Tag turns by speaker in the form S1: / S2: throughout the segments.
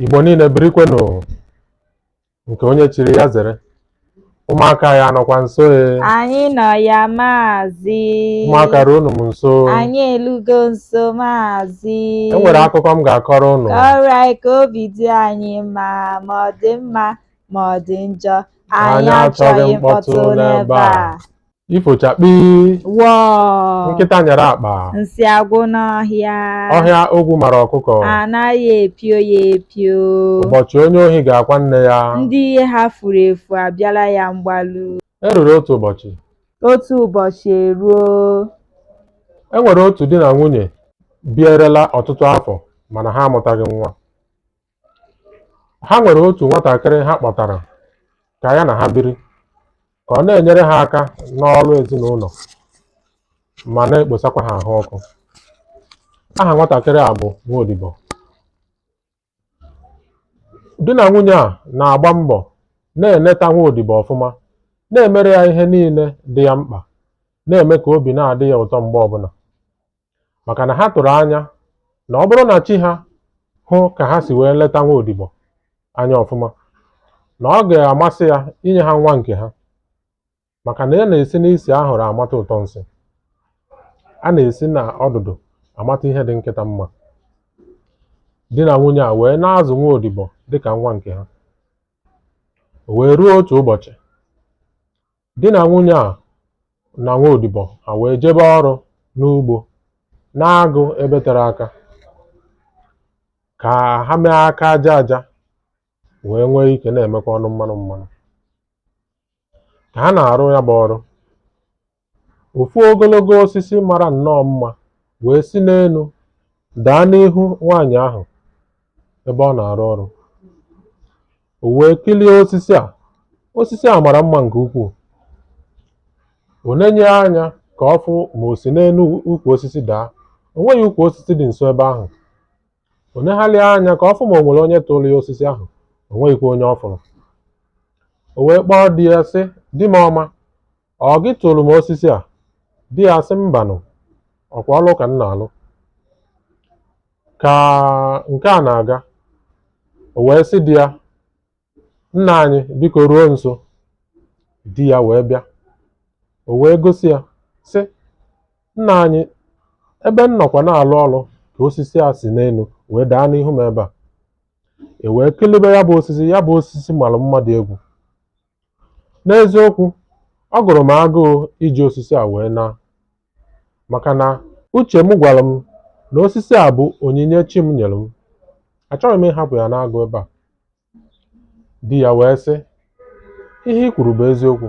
S1: Igbo niile birikwenụ nke onye chiri ya zere ụmụaka ya nọkwa nso e anyị nọ
S2: ya maazị ụmụaka
S1: ruonụ m nso anyị elugo
S2: nso maazị e nwere
S1: akụkọ m ga-akọrọ unu kọrọ anyị ka
S2: obi dị anyị mma ma ọ dị mma ma ọ dị njọ anyị achọghị mkpọtụ n'ebe a
S1: ifochakpi
S2: wọọ nkịta nyere
S1: akpa nsị
S2: agwụ n'ọhịa ọhịa
S1: ogwu mara ọkụkọ anaghị epio
S2: ya epio ụbọchị onye
S1: ohi ga-akwa nne ya ndị ihe ha
S2: furu efu abịala ya mgbalu e ruru otu
S1: ụbọchị
S2: otu ụbọchị
S1: eruo e nwere otu di na nwunye bierela ọtụtụ afọ mana ha amụtaghị nwa ha nwere otu nwatakịrị ha kpọtara ka ya na ha biri ka ọ na-enyere ha aka n'ọrụ ezinụlọ ma na-ekposakwa ha ahụ ọkụ aha nwatakịrị a bụ nwaodibo di na nwunye a na-agba mbọ na-eneta nwaodibo ọfụma na-emere ya ihe niile dị ya mkpa na-eme ka obi na-adị ya ụtọ mgbe ọbụla maka na ha tụrụ anya na ọ bụrụ na chi ha hụ ka ha si wee leta nwa odibo anya ọfụma na ọ ga-amasị ya inye ha nwa nke ha maka na a na-esi n'isi ahụrụ amata ụtọ nsị a na-esi n'ọdụdụ amata ihe dị nkịta mma di na nwunye a wee na-azụ nwa odibo dịka nwa nke ha o wee ruo otu ụbọchị Di na nwunye a na nwa odibo ha wee jebe ọrụ n'ugbo n'agụ ebe tere aka ka ha mee aka aja aja wee nwee ike na-emekwa ọnụ mmanụ mmanụ. Ka ha na-arụ ya bụ ọrụ, ofu ogologo osisi mara nnọọ mma wee si n'enu daa n'ihu nwaanyị ahụ ebe ọ na-arụ ọrụ. O wee kirie osisi a. Osisi a mara mma nke ukwuu. O nenye anya ka ọ fụ ma o si n'enu ukwu osisi daa. O nweghị ukwu osisi dị nso ebe ahụ. O negharịa anya ka ọ fụ ma o nwere onye tụrụ ya osisi ahụ. O nweghịkwa onye ọ fụrụ. O wee kpọọ di ya sị, Di m ọma, ọ gị tụrụ m osisi a di ya sị mbanụ ọkwa ọlụ ka m na-alụ ka nke a na-aga o wee sị di ya nna anyị biko ruo nso di ya wee bịa o wee gosi ya sị nna anyị ebe m nọkwa na-alụ ọlụ ka osisi a si n'enu wee daa n'ihu m ebe a e wee kilibe ya bụ osisi ya bụ osisi mara mma dị egwu N'eziokwu, ọ gụrụ m agụụ iji osisi a wee naa maka na uche m gwara m na osisi a bụ onyinye chi m nyere m. Achọghị m ịhapụ ya n'agụ ebe a. Di ya wee sị, Ihe i kwuru bụ eziokwu.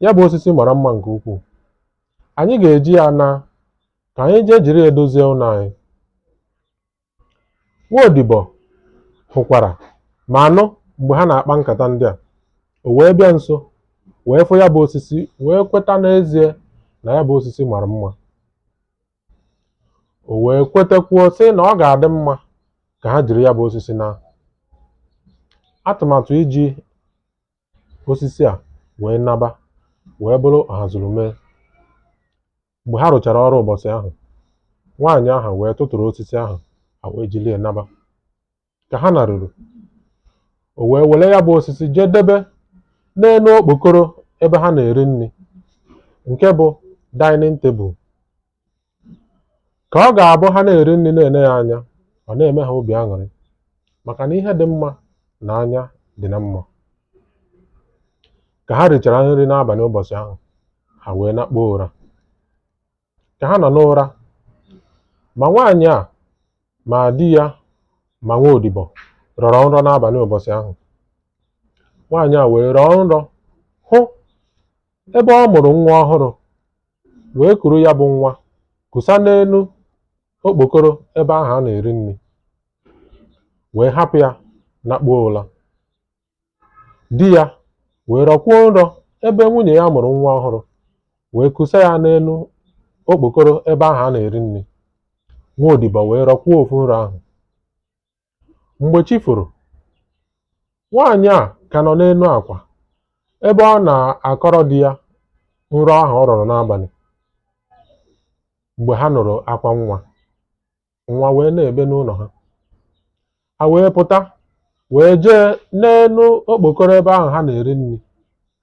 S1: Ya bụ osisi mara mma nke ukwuu. Anyị ga-eji ya ana ka anyị jee jiri ya dozie ụlọ anyị. Nwa odibo hụkwara ma anụ mgbe ha na-akpa nkata ndị a. O wee bịa nso, wee fụ ya bụ osisi, wee kweta n'ezie na ya bụ osisi mara mma. O wee kwetekwuo sị na ọ ga-adị mma ka ha jiri ya bụ osisi naa. Atụmatụ iji osisi a wee naba wee bụrụ ọhazurume Mgbe ha rụchara ọrụ ụbọchị ahụ, nwaanyị ahụ wee tụtụrụ osisi ahụ ha wee jiri ya naba. Ka ha naruru, o wee were ya bụ osisi jee debe n'elu okpokoro ebe ha na-eri nri nke bụ dining table. Ka ọ ga-abụ ha na-eri nri na-ene ya anya, ọ na-eme ha obi aṅụrị maka na ihe dị mma na anya dị na mma. Ka ha richara nri n'abalị ụbọchị ahụ, ha wee nakpuo ụra. Ka ha nọ n'ụra, ma nwaanyị a ma di ya ma nwa odibo rọrọ nrọ n'abalị ụbọchị ahụ. Nwaanyị a wee rọọ nrọ hụ ebe ọ mụrụ nwa ọhụrụ wee kuru ya bụ nwa kusa n'elu okpokoro ebe ahụ a na-eri nri wee hapụ ya nakpuo ụra. di ya wee rọkwuo nrọ ebe nwunye ya mụrụ nwa ọhụrụ wee kusa ya n'elu okpokoro ebe ahụ a na-eri nri nwa odibo wee rọkwuo ofu nrọ ahụ mgbe chi foro nwaanyị a ka nọ n'elu akwa ebe ọ na-akọrọ di ya nrọ ahụ ọ rọrọ n'abalị mgbe ha nụrụ akwa nwa nwa wee na-ebe n'ụlọ ha ha wee pụta wee jee n'elu okpokoro ebe ahụ ha na-eri nri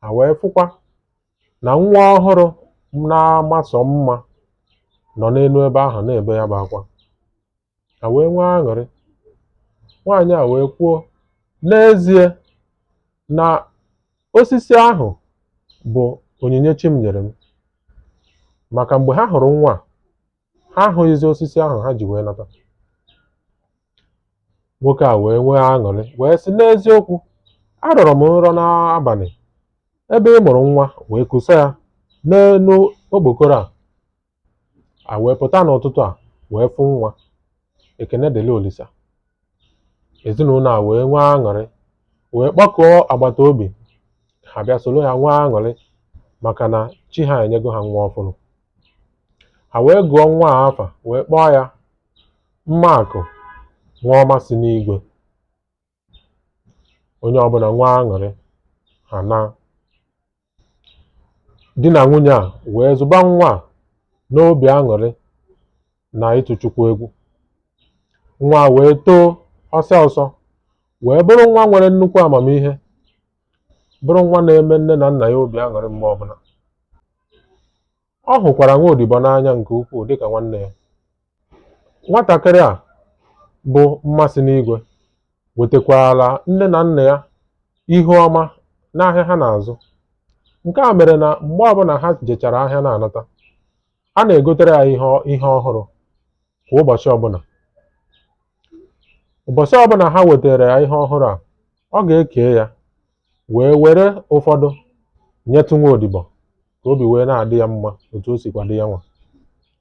S1: ha wee fụkwa na nwa ọhụrụ na-ama sọ mma nọ n'elu ebe ahụ na-ebe ya bụ akwa ha wee nwee aṅụrị nwaanyị a wee kwuo n'ezie na osisi ahụ bụ onyinye chi m nyere m maka mgbe ha hụrụ nwa a, ha ahụghịzi osisi ahụ ha ji wee nata nwoke a wee nwee aṅụrị wee sị n'eziokwu arọrọ m nrọ n'abalị ebe ị mụrụ nwa wee kusa ya n'elu okpokoro a a wee pụta n'ụtụtụ a wee fụ nwa ekene dịrị olisa ezinụlọ a wee nwee aṅụrị wee kpọkọọ agbata obi ha bịa soro ya nwee aṅụrị maka na chi ha enyego ha nwa ọfụrụ ha wee gụọ nwa a afa wee kpọọ ya mmaakụ nwa ọma si n'igwe onye ọbụla nwee aṅụrị ha naa di na nwunye a wee zụba nwa a n'obi aṅụrị na ịtụ chukwu egwu nwa a wee too ọsọ ọsọ wee bụrụ nwa nwere nnukwu amamihe bụrụ nwa na-eme nne na nna ya obi aṅụrị mgbe ọbụla. Ọ hụkwara nwa odibo n'anya nke ukwuu dịka nwanne ya. Nwatakịrị a bụ mmasị n'igwe wetakwaara nne na nna ya ihu ọma n'ahịa ha na-azụ. Nke a mere na mgbe ọbụla ha jechara ahịa na-anata, a na-egotere ya ihe ọ- ihe ọhụrụ kwa ụbọchị ọbụla. Ụbọchị ọbụla ha wetara ya ihe ọhụrụ a, ọ ga-eke ya wee were ụfọdụ nyetụ nwa odibo ka obi wee na-adị ya mma otu o sikwa dị ya nwa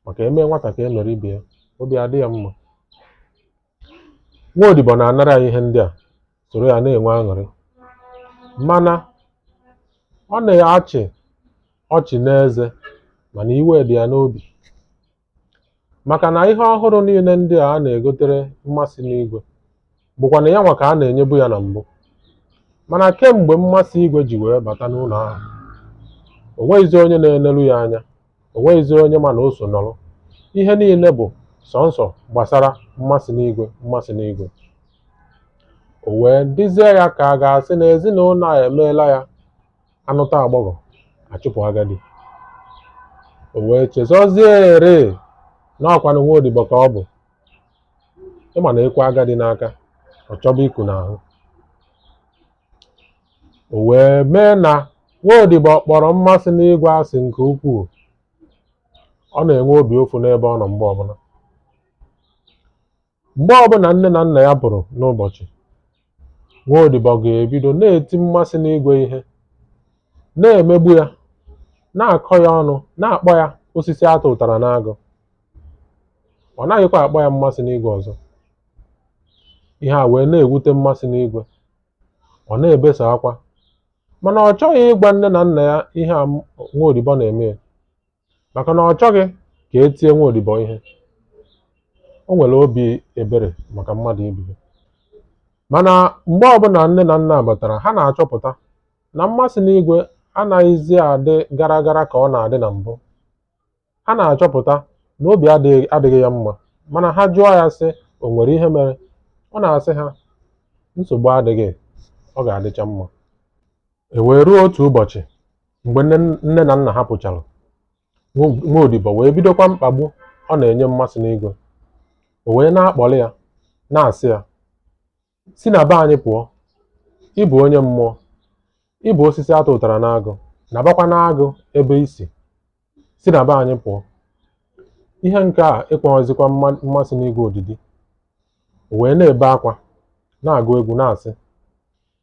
S1: maka e mee nwata ka e mere ibe ya obi adị ya mma nwa odibo na-anara ya ihe ndị a soro ya na-enwe aṅụrị mana ọ na-achị ọchị n'eze mana iwe dị ya n'obi Maka na ihe ọhụrụ niile ndị a a na-egotere mmasị n'igwe bụkwa na ya nwa ka a na-enyebu ya na mbụ. Mana kemgbe mmasị igwe ji wee bata n'ụlọ ahụ, o nweghịzi onye na-eleru ya anya, o nweghịzi onye ma na o so nọrọ. Ihe niile bụ sọnsọ gbasara mmasị n'igwe mmasị n'igwe. O wee dịzie ya ka a ga-asị na ezinụlọ a emeela ya a nụta agbọghọ a chụpụ agadi o wee chezọzie ere na ọkwanụ nwa odibo ka ọ bụ ị ma na e kwe agadi n'aka ọ chọba iku n'ahụ o wee mee na nwa odibo kpọrọ mmasị n'igwe asị nke ukwuu ọ na-enwe obi ụfụ n'ebe ọ nọ mgbe ọbụla Mgbe ọbụla nne na nna ya pụrụ n'ụbọchị, nwa odibo ga-ebido na-eti mmasị n'igwe ihe, na-emegbu ya, na-akọ ya ọnụ, na-akpọ ya osisi a tụụtara n'agụ. Ọ naghịkwa akpọ ya mmasị n'igwe ọzọ. Ihe a wee na-ewute mmasị n'igwe. Ọ na-ebesa akwa. Mana ọ chọghị ịgwa nne na nna ya ihe a nwa odibo na-eme ya. maka na ọ chọghị ka e tie nwa odibo ihe o nwere obi ebere maka mmadụ ibe ya mana mgbe ọbụla nne na nna batara ha na-achọpụta na mmasị n'igwe anaghịzi adị gara gara ka ọ na-adị na mbụ ha na-achọpụta na obi adịghị ya mma mana ha jụọ ya sị o nwere ihe mere ọ na-asị ha nsogbu adịghị ọ ga-adịcha mma e wee ruo otu ụbọchị mgbe nne na nna ha pụchara nwa odibo wee bidokwa mkpagbu ọ na-enye mmasị n'igwe o wee na-akpọrị ya na-asị ya si na be anyị pụọ ị bụ onye mmụọ ị bụ osisi a tụtara n'agụ nabakwa n'agụ ebe i si si na be anyị pụọ ihe nke a ekweghịzikwa mmasị n'igwe odidi o wee na-ebe akwa na-agụ egwu na-asị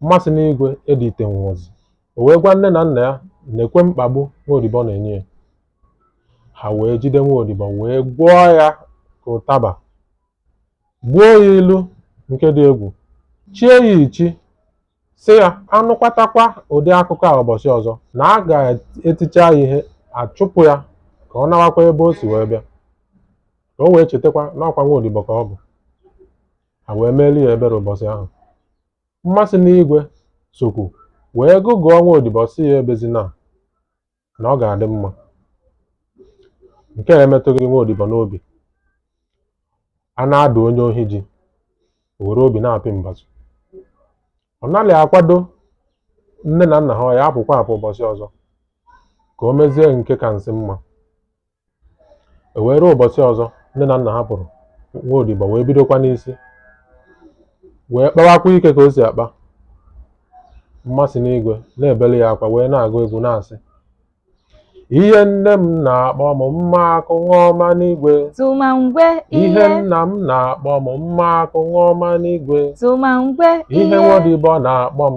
S1: Mmasị n'igwe editenwuzi. O wee gwa nne na nna ya nekwe mkpagbu nwa odibo na-enye ya. Ha wee jide nwa odibo wee gwọọ ya ka ụtaba, gbuo ya ilu nke dị egwu, chie ya ichi, sị ya a nụkwatakwa ụdị akụkọ a ụbọchị ọzọ na a ga-eticha ya ihe a chụpụ ya ka ọ nawakwa ebe o si wee bịa ka o wee chetakwa na ọ kwa nwa odibo ka ọ bụ ha wee meeli ya ebere ụbọchị ahụ Mmasị n'igwe sokwu wee gụgụọ nwa odibo sị ya ebezina na ọ ga-adị mma. Nke a emetụghị nwa odibo n'obi. A na-adụ onye ohi ji, o were obi na-apị mbazụ. Ọ nalị akwado nne na nna ha ọ ya-apụkwa apụ ụbọchị ọzọ ka o mezie nke ka nsị mma. e wee ruo ụbọchị ọzọ nne na nna ha pụrụ nwa odibo wee bidokwa n'isi wee kpawakwa ike ka o si akpa mmasị n'igwe na-ebeli ya akwa wee na-agụ egwu na-asị ihe nne m na-akpọ m mma akụ nwa ọma n'igwe tụma ngwe
S2: ihe ihe nna
S1: m na-akpọ m mma akụ nwa ọma n'igwe tụma ngwe
S2: ihe ihe nwa
S1: odibo na-akpọ m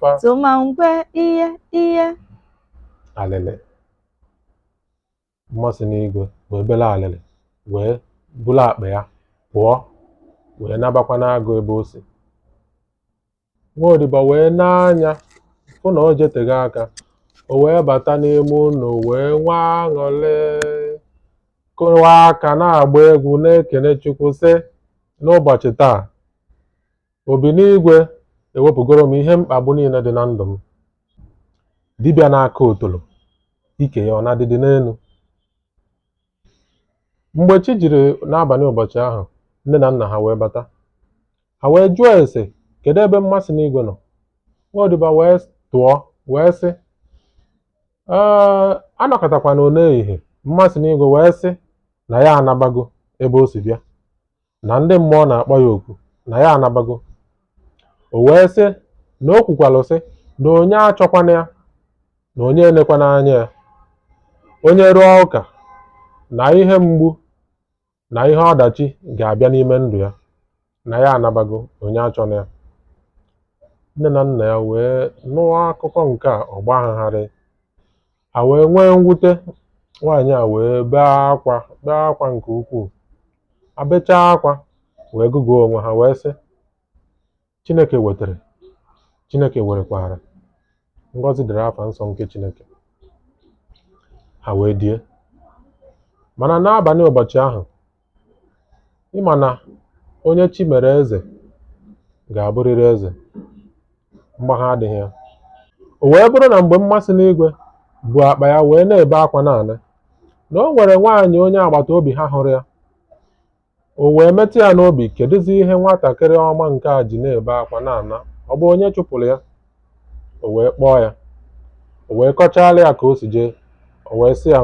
S1: fa tụma ngwe
S2: ihe
S1: ihe. alịlị mmasị n'igwe wee bela alịlị wee bulu akpa ya pụọ wee nabakwa n'agụ ebe o si nwa odibo wee nee anya fụ na o jetego aka o wee bata n'ime ụlọ wee nwee aṅụlị kụwa aka na-agba egwu na-ekene chukwu sị n'ụbọchị taa Obi n'igwe ewepụgoro m ihe mkpagbu niile dị na ndụ m. Dibịa na-aka otolo, ike ya ọ na-adịdị n'elu. Mgbe chi jiri n'abalị ụbọchị ahụ, nne na nna ha wee bata. Ha wee jụọ ese, kedu ebe mmasị n'igwe nọ? Nwa odibo wee tụọ wee sị, ee anọkọtakwana n'ehihie mmasị n'igwe wee sị na ya anabago ebe o si bịa. na ndị mmụọ na-akpọ ya oku na ya anabago o wee sị na o kwukwalụ sị na onye achọkwana ya na onye elekwana anya ya onye rụọ ụka na ihe mgbu na ihe ọdachi ga-abịa n'ime ndụ ya na ya anabago onye achọna ya nne na nna ya wee nụọ akụkọ nke a ọ gbaa ha gharịị Ha wee nwee mwute, nwaanyị a wee bee akwa bee akwa nke ukwuu. Ha bechaa akwa wee gụgụọ onwe ha wee sị, Chineke wetere, Chineke werekwara, ngọzi dịrị afa nsọ nke Chineke. Ha wee die. Mana n'abalị ụbọchị ahụ, Ị ma na onye chi mere eze ga-abụrịrị eze, mgbagha adịghị ya. O wee bụrụ na mgbe mmasị n'igwe bu akpa ya wee na-ebe akwa na-ana, na o nwere nwaanyị onye agbata obi ha hụrụ ya, o wee metụ ya n'obi, kedụzi ihe nwatakịrị ọma nke a ji na-ebe akwa na-ana, ọ bụ onye chụpụrụ ya? o wee kpọọ ya o wee kọchaara ya ka o si jee o wee sị ya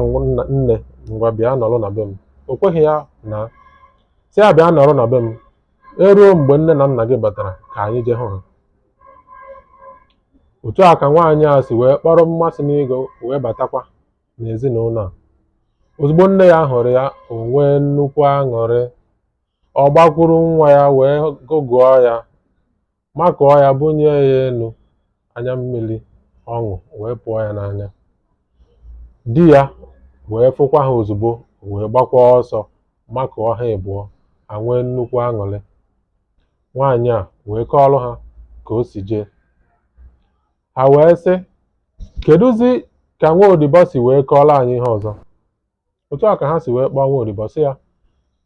S1: "Nne ngwa bịa nọrọ na be m o kweghị ya naa sị ya bịa nọrọ na be m eruo mgbe nne na nna gị batara ka anyị jee hụ ha otu a ka nwaanyị a si wee kpọrọ mmasị n'igwe wee batakwa n'ezinụlọ a ozugbo nne ya hụrụ ya o nwee nnukwu aṅụrị ọ gbakwuru nwa ya wee gụgụọ ya makụọ ya bunie ya elu anya mmiri ọṅụ wee pụọ ya n'anya di ya wee fụkwa ha ozugbo wee gbakwa ọsọ makụọ ha ịbụọ ha nwee nnukwu aṅụrị nwaanyị a wee kọọrọ ha ka o si jee ha wee sị kedụzi ka nwa odibo si wee kọọrọ anyị ihe ọzọ otu a ka ha si wee kpọọ nwa odibo sị ya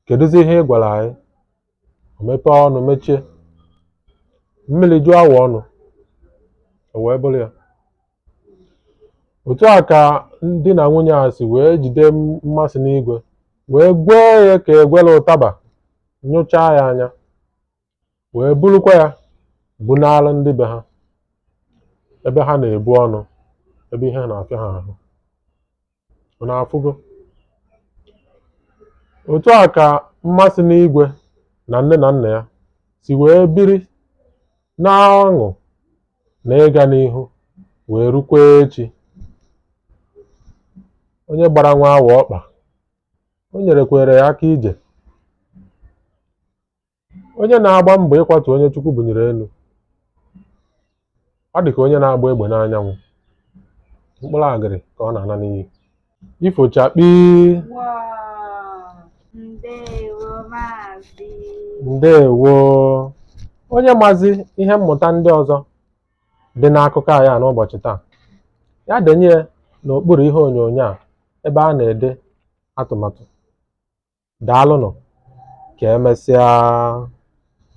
S1: kedụzi ihe ị gwara anyị o mepee ọnụ mechie mmiri juo awọ ọnụ o wee bụrụ ya otu a ka di na nwunye a si wee jide m- mmasị n'igwe wee gwee ya ka egwela ụtaba nyụchaa ya anya wee burukwa ya bunara ndị be ha ebe ha na-ebu ọnụ ebe ihe na-afịa ha ahụ unu afụgo otu a ka mmasị n'igwe na nne na nna ya si wee biri na ọṅụ na ịga n'ihu wee rukwa echi onye gbara nwa awọ ọkpa o nyerekwere ya aka ije Onye na-agba mbọ ịkwatu onye Chukwu bunyere enu. Ọ dị ka onye na-agba egbe n'anyanwụ. Mkpụrụ agịrị ka ọ na-ana n'iyi. Ifo chakpii. Ndewo. Onye mazi ihe mmụta ndị ọzọ dị n'akụkọ anyị a n'ụbọchị taa, ya denye n'okpuru ihe onyonyo a ebe a na-ede atụmatụ. Daalụnụ, ka e mesịa.